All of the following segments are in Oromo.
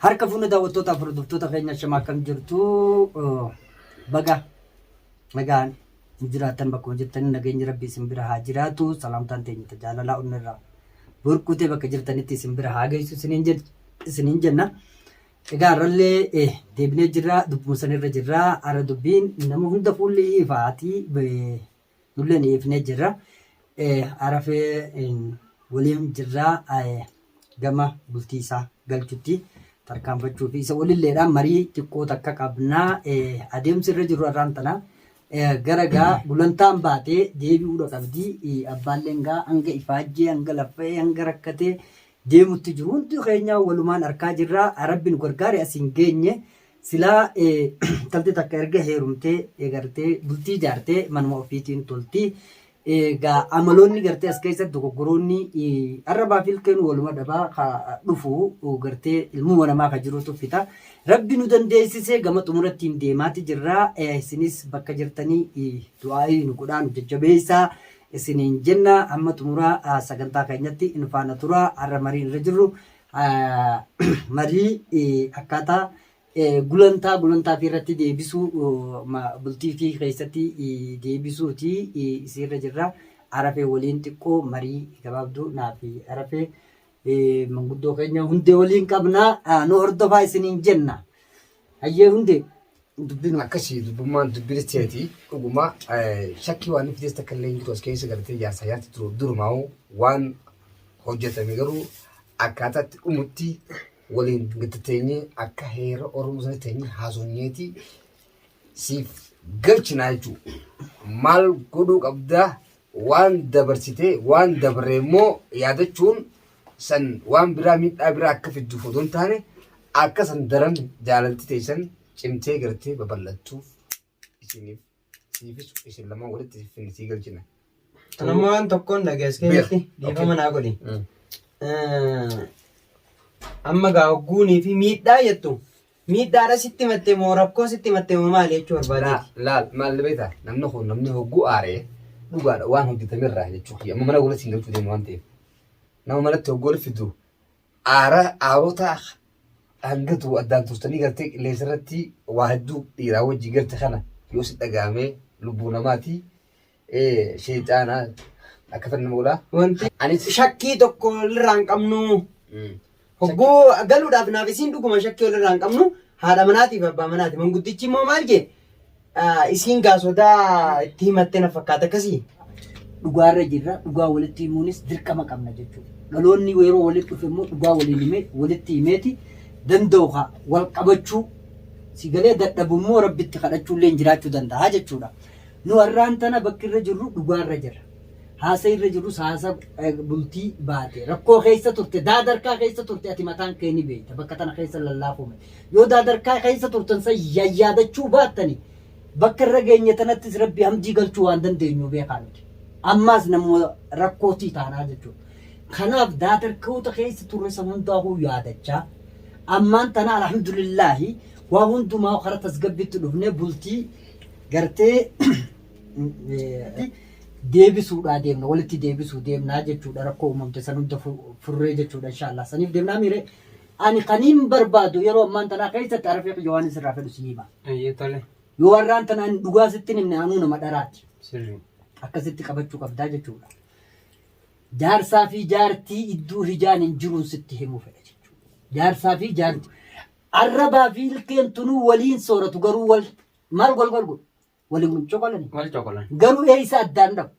Harka fuune daawwattootaa fi hordoftoota keenya shama akkam jirtu baga nagaan hin jiraattan bakkuma jirtanii nageenyi rabbi isin bira haa jiraatu salaamtaan teenya tajaalalaa onnirraa burkutee bakka jirtanitti isin bira haa geessu isiniin jed- isiniin jenna. Egaa har'allee eh, deebinee jirra dubbuma sanirra jirra har'a dubbiin nama hunda fuulli ifaatii eh, Nulleen ifnee jirra. Arafeen waliin jirra gama bultii isaa galchutti tarkaanfachuu fi isa walilleedhaan marii xiqqoo takka qabna. Adeemsi irra jiru har'aan tana gara gaa gulantaan baatee deebi'uudha qabdi. Abbaalleen gaa hanga ifaajjee hanga laffa'ee hanga rakkatee deemutti jiru. Hundi keenyaa walumaan arkaa jirra. Rabbi nu gargaare asiin geenye. Silaa intalti takka erga heerumtee eegartee bultii jaartee manuma ofiitiin tolti. Egaa amaloonni gartee as keessatti dogoggoroonni arrabaa fi ilkeen waluma dhabaa ka dhufu gartee ilmuma namaa ka jiru tuffita. Rabbi nu dandeessisee gama xumurattiin deemaati jirra. Isinis bakka jirtanii du'aa'ii nu godhaa nu jajjabeessaa isiniin jenna. Amma xumuraa sagantaa keenyatti nu faana tura. Har'a mariin irra jirru marii akkaataa gulantaa gulantaa fi irratti deebisuu bultii fi keessatti deebisuuti isiirra jirra. Arafee waliin xiqqoo marii gabaabduu naaf arafee manguddoo keenya hundee waliin qabna nu hordofaa isiniin jenna. Hayyee hundee dubbiin akkasii dubbummaan dubbii teeti dhuguma shakkii waan fidees takka illee jiru as keessa galatee jaarsaa jaarti jiru durumaa'u waan hojjetame garuu akkaataatti dhumutti waliin gaddateenye akka heera oromoo sana teenye haasonyeeti siif galchinaa jechuudha maal godhuu qabdaa Waan dabarsite, waan dabre immoo yaadachuun san waan biraa miidhaa biraa akka fidduuf odoo hin taane akka san daran jaalalti teessan cimtee gartee babal'attuuf isiniif siifis isin lamaan walitti isin finne sii galchina. Kan amma waan tokkoon dhagees keessatti Beer. dhiifama Okay. naa godhi. Mm. Eh, Amma gaa hogguunii fi miidhaa jettu Miidhaadha sitti himatte moo rakkoo sitti himatte moo maali jechuu barbaadeeti? Laa, laal, maal beektaa? Namni kun namni hogguu aaree dhugaadha waan hojjetame irraa jechuu kiyya. Amma mana walitti hin galchuu deemu waan ta'eef. Nama manatti hogguu walitti fidu aara aarota hanga tuu addaan turtanii galtee qilleensa irratti waa hedduu dhiiraa wajjin galte kana yoo si dhagahamee lubbuu namaatii Ee sheexaana akka fanna moolaa. Wanti anis shakkii tokko walirraa hin qabnu. Hogguu galuudhaaf naaf isiin dhuguma shakkii walirraa hin qabnu. Haadha manaatiif abbaa manaati. Manguddichi immoo maal jee? Isiin gaa sodaa itti himattee na fakkaata akkasii. Dhugaarra jirra. Dhugaa walitti himuunis dirqama qabna jechuudha. Dhaloonni yeroo walitti dhufe immoo dhugaa waliin himee walitti himeeti danda'u haa wal qabachuu si galee dadhabu immoo rabbitti kadhachuullee jiraachuu danda'a jechuudha. Nu har'aan tana bakki irra jirru dhugaa irra jirra. Haasa irra jirrus haasa bultii baate. Rakkoo keessa turte, daadarkaa keessa turte ati mataan kee ni beekta. Bakka tana keessa lallaafuume. Yoo daadarkaa keessa turtan san yayyaadachuu baattani bakka irra geenye tanattis rabbi hamdii galchuu waan dandeenyu beekaa nuti. Ammaas nammoo rakkootii taanaa jechuudha. Kanaaf daadarkoota keessa turre san hundaa huu yaadachaa ammaan tana alhamdulillaahi waa hundumaa karaa tasgabbiitti dhufnee bultii gartee deebisuudhaa deemna walitti deebisuu deemnaa jechuudha rakkoo uumamte san hunda furree jechuudha inshaallah saniif deemnaa miire ani kaniin barbaadu yeroo ammaan tanaa keessatti arafee kiyya waan isirraa fedhu si hima yoo warraan tana ani dhugaa sittin himne anuu nama dharaati akkasitti qabachuu qabdaa jechuudha jaarsaa fi jaartii idduu hijaan hin jiruun sitti himuu fedha jechuudha jaarsaa fi jaartii Arrabaa fi ilkeen tunuu waliin sooratu garuu wal maal wal wal godhu? Waliin coqolani. Wal coqolan. Garuu eeysa addaan dhabu.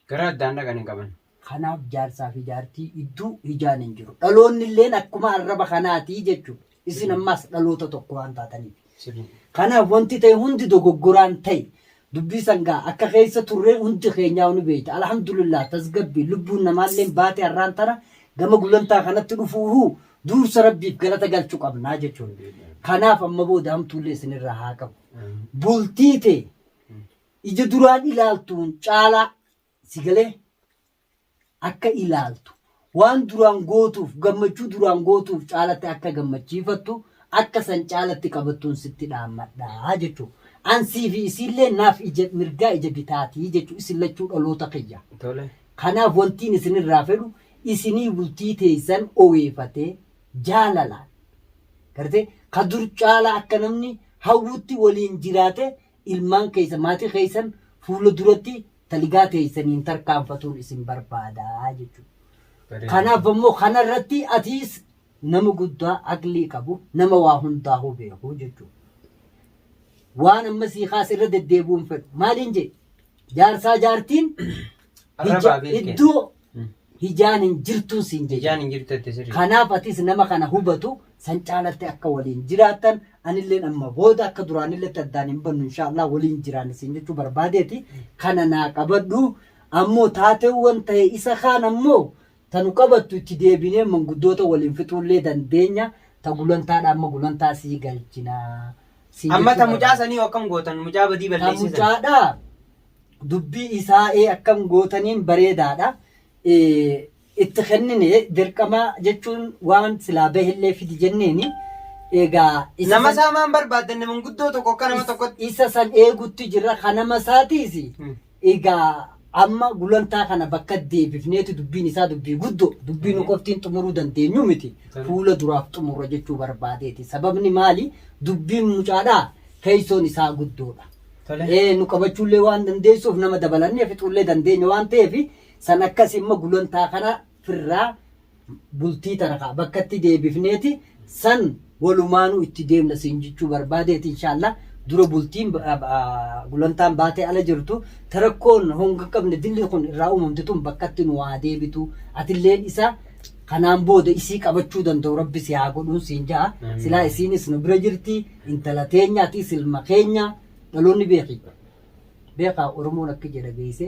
Gara addaan dhaqan hin qaban. Kanaaf jaarsaa fi jaartii idduu hijaan hin jiru. Dhaloonni illeen akkuma arraba kanaatii jechuudha. Isin ammaas dhaloota tokko waan taataniif. Sirrii. Kanaaf wanti ta'e hundi dogoggoraan ta'e. Dubbii san gaa akka keessa turree hundi keenyaa'u ni beeyta. Alhamdulillah tasgabbii lubbuun namaalleen baate har'aan tana gama gulantaa kanatti dhufuuhuu duursa Rabbiif galata galchu qabnaa jechuun. Kanaaf amma booda hamtuullee isinirraa haa qabu. Bultii tee ija duraan ilaaltuun caalaa si galee akka ilaaltu, waan duraan gootuuf gammachuu duraan gootuuf caalatti akka gammachiifattu akka san caalatti qabattuun sitti dhaammadha jechuu. An sii fi isiillee naaf ija mirgaa ija bitaati jechuu isin lachuu dhaloota kiyya. Tole. Kanaaf wantiin isinirraa fedhu isinii bultii teessan oweefatee jaalalaan gartee ka dur caalaa akka namni hawwutti waliin jiraatee ilmaan keessan, maatii keessan fuula duratti taligaa teessaniin tarkaanfatuun isin barbaada jechuudha. Kanaaf ammoo kanarratti atiis nama guddaa aqlii qabu nama waa hundaahuu beeku jechuudha. Waan amma sii kaas irra deddeebi'uun fedhu maaliin jee jaarsaa jaartiin Arrabaa beekeen. iddoo Hijaan hin jirtuun siin jedhe. Ijaan hin jirtu jette sirrii. Kanaaf atis nama kana hubatu san caalattee akka waliin jiraattan anilleen amma booda akka duraanilletti addaan hin bannu inshaallah waliin jiraanna siin jechuu barbaadeeti kana naa qabadhu ammoo taateewwan ta'e isa kaan ammoo tanu qabattu itti deebinee manguddoota waliin fixuullee dandeenya ta gulantaadha amma gulantaa sii galchina siin Amma jechuu ta mucaa barbaade. sanii akkam gootan mucaa badii Ta balleessee sana. mucaadha dubbii isaa ee akkam gootaniin bareedaadha itti kennine dirqama jechuun waan silaa bahellee fidi jenneeni egaa isa Nama san- isaa maan barbaaddanne manguddoo tokko akka nama tokkotti. isa san eegutti jirra kan nama isaatiis Hmm. egaa amma gulantaa kana bakka deebifneeti dubbiin isaa dubbii guddoo dubbii nu qoftiin xumuruu dandeenyu miti Tarii. fuula duraaf xumurra jechuu barbaadeeti sababni maali dubbiin mucaadhaa teessoon isaa guddoodha Tole. Ee, nu qabachuullee waan dandeessuuf nama dabalannee fixuullee dandeenya waan ta'eef san akkasii immoo gulantaa kana firraa bultii tana kaa bakkatti deebifneeti san walumaanuu itti deemna siin jechuu barbaadeeti inshaallah dura bultiin ba- a- a- gulantaan baatee ala jirtu tarakkoon honga qabne dilli kun irraa uumamte tun bakkatti nu haa deebitu atilleen isa kanaan booda isii qabachuu danda'u rabbi si haa godhuun siin ja'a Amiin. silaa isiinis nu bira jirti intala teenyaa ati silma keenya dhaloonni beeki beekaa oromoon akka jedha geesse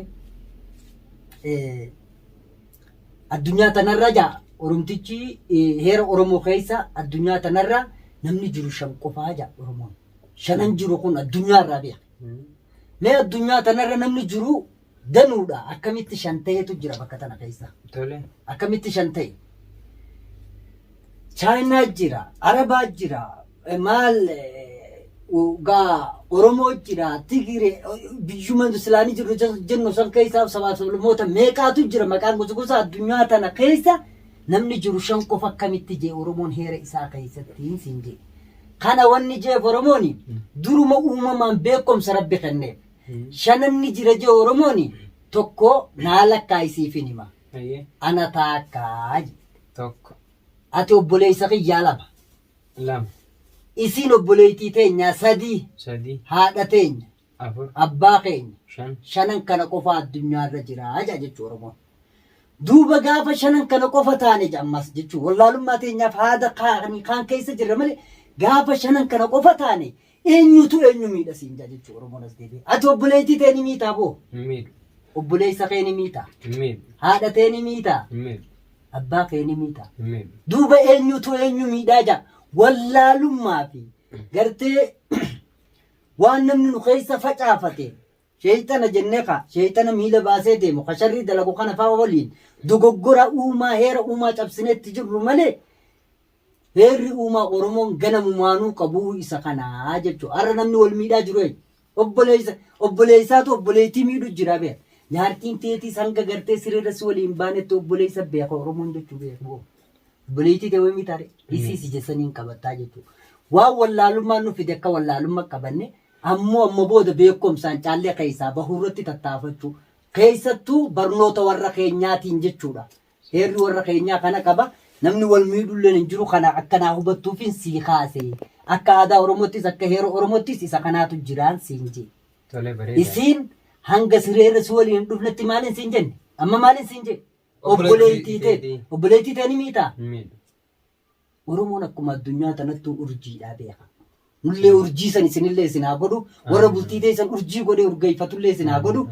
addunyaa tanarra jaa oromtichi heera oromoo keessa addunyaa tanarra namni jiru shan qofaa jaa oromoon shanan jiru kun addunyaa irraa beeka mee addunyaa tanarra namni jiru Danuudha akkamitti shan ta'etu jira bakka tana keessa. Tole. Akkamitti shan ta'e? Chaayinaa jira, Arabaa jira, eh, maal eh, u- gaa Oromoo jira, Tigiree, eh, biyyuma Islaanii jirru jas- jennu san keessaa sabaa sablamoota meeqaatu jira maqaan gosa gosa addunyaa tana keessa namni jiru shan qofa akkamitti jee Oromoon heera isaa keessatti hin siin jee. Kana wanni jeef Oromooni duruma uumamaan beekumsa rabbi kenneef. Shanan ni jira jee Oromooni tokko naa lakkaa'i siifin hima. Hayyee. Ana taakkaa je. Tokko. Ati obboleessa kiyyaa lama. Lama. Isiin obboleeytii teenyaa sadii. Sadii. Haadha teenya. Afur. Abbaa keenya. Shan. Shanan kana qofa addunyaa irra jira jaa jechuu Oromoon. Duuba gaafa shanan kana qofa taane je ammas jechuu wallaalummaa teenyaaf haada kaani kaan keessa jirra malee gaafa shanan kana qofa taane Eenyutu eenyu miidha siin jaa jechuu Oromoon as deebi'e. Ati obboleettii tee ni miitaa boo? Hin miidhu. Obboleessa kee ni miitaa? Hin miidhu. Haadha tee ni miitaa? Hin miidhu. Abbaa kee ni miitaa? Hin miidhu. Duuba eenyutu eenyu miidhaa jaa? Wallaalummaa fi gartee waan namni nu keessa facaafate Sheeyxana jennee ka sheeyxana miila baasee deemu, ka sharrii dalagu kana fa'a waliin dogoggora uumaa, heera uumaa cabsinee itti jirru malee heerri uumaa Oromoon ganamumaanuu qabu isa kana jechuudha. Har'a namni wal miidhaa jiru eenyu? Obboleessa, obboleessaatu obboleettii miidhu jira beeka. Jaartiin teetiis hanga gartee sireerra si waliin baanetti obboleessa beeka Oromoon jechuu beeka boo. Obboleettii tee wayimii taare isii si jessanii hin qabattaa jechuudha. Waan wallaalummaan nu fide akka wallaalummaa qabanne Ammoo amma booda beekkomsaan caallee keessaa bahuurratti tattaafachuu, keessattuu barnoota warra keenyaatiin jechuudha. Heerri warra keenyaa kana qaba. Namni wal miidhulleen hin jiru. Kana akka naa hubattuufin sii kaase. Akka aadaa Oromoottis akka heera Oromoottis isa kanaatu jiraan siin jee. Tole bareedaadha. Isiin hanga sireerra si waliin hin dhufnetti maalin siin jenne? Amma maalin siin jee? Obboleettii Obboleettii teeti. teeti. Obboleettii tee ni miitaa? Hin miidhu. Oromoon akkuma addunyaa tanattuu urjiidhaa beeka. Nullee urjii san isinillee isin haa godhu. Warra bultii teessan urjii godhee urgeeffatullee isin haa godhu.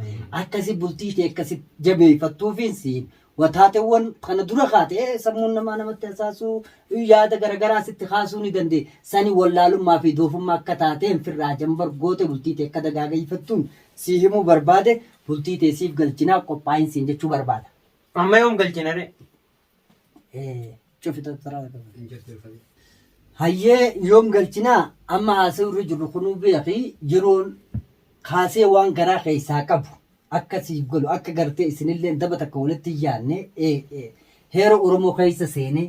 Akkasi bultii tee akkasi jabeeffattuufiin siin wataateewwan kana dura kaate sammuun namaa namatti hasaasuu yaada garagaraa sitti kaasuu ni dandee. Sani wallaalummaa fi doofummaa akka taateen firraa jambar goote bultii tee akka dagaageeffattuun sii himuu barbaade bultii tee siif galchinaa qophaa'in siin jechuu barbaada. Amma yoom galchina ree? Cufita taraa qaba. Hayyee yoom galchinaa amma haasa'u irra jirru kunuu beeki yeroon kaasee waan garaa keessaa qabu akka siif galu akka gartee isinillee daba takka walitti hin yaadne eh, eh, heera Oromoo keessa seene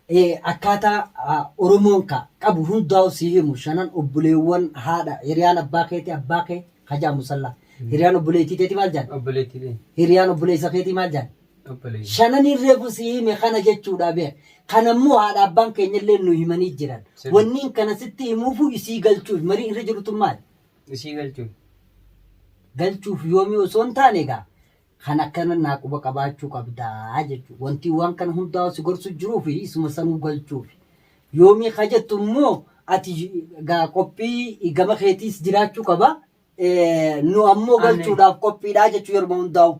eh, akkaataa ah, Oromoon ka qabu hundaa'u si himu shanan obboleewwan haadha hiriyaan abbaa keetii abbaa kee hajaa musallaa hiriyaan obboleettii teetii maal jedhan Obboleettiilee. hiriyaan obboleessa keetii maal jedhan Shananiin reefu sii hime kana jechuudha bee. Kana immoo haadha abbaan keenyallee nu himanii jiran. Sirri. Wanniin kana sitti himuufuu isii galchuuf marii irra jirutun maali? Isii galchuuf. galchuuf yoomii osoo hin taane egaa kan akkana naa quba qabaachuu qabdaa jechuudha. Wanti waan kana hundaa si gorsu jiruu fi isuma sanuu galchuuf. Yoomii ka jettu immoo ati egaa qophii gama keetiis jiraachuu qaba. Eh, Nu ammoo Anne. galchuudhaaf qophiidhaa jechuu yeruma hundaa'u.